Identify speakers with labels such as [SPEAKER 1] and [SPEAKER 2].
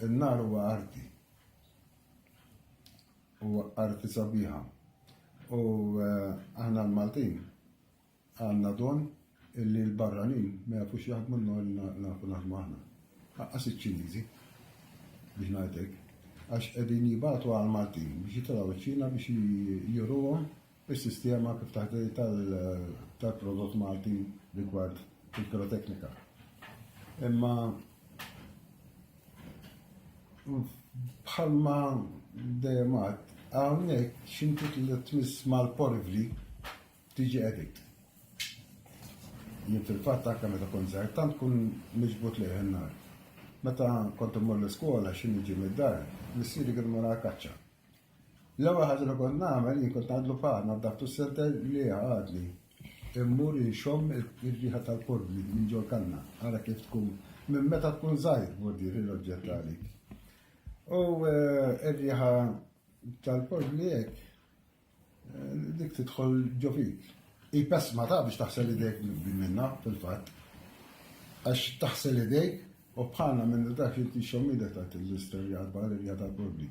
[SPEAKER 1] In-nar huwa arti. Huwa arti sabiħa. U eh, aħna l-Maltin għandna don illi l-barranin ma jafux jaħdmu n-nar li nafu naħdmu aħna. Ħaqqas iċ-Ċiniżi biex ngħidlek. Għax qegħdin jibatu għal Maltin biex jitilgħu ċ-Ċina biex juruhom is-sistema kif taħdem tal-prodott Malti rigward il-piroteknika. Imma bħalma dejjem għad, hawnhekk x'inti tliet tmiss mal-porivli tiġi edik. Jien fil-fatt anke meta kun żgħir tant kun miġbut lejh in-nar. Meta kont immur l-iskola xi niġi mid-dar, missieri kien mara kaċċa. L-ewwel ħaġa li kont nagħmel jien kont ngħadlu paħ naddaftu s-senter li għadli. Immur inxomm ir-riħa tal-korbli minn ġol kanna, ara kif tkun minn meta tkun żgħir bordier il-oġġett għalik. U eh, r-riħa tal-korbli hekk eh, dik tidħol ġo fik. Hi pesma ta' biex taħsel idejk minna fil-fatt. Għax taħsel idejk u bħalna minn dak li tixxommidek ta' l-isterja għadbar ir-riħa tal-korbli.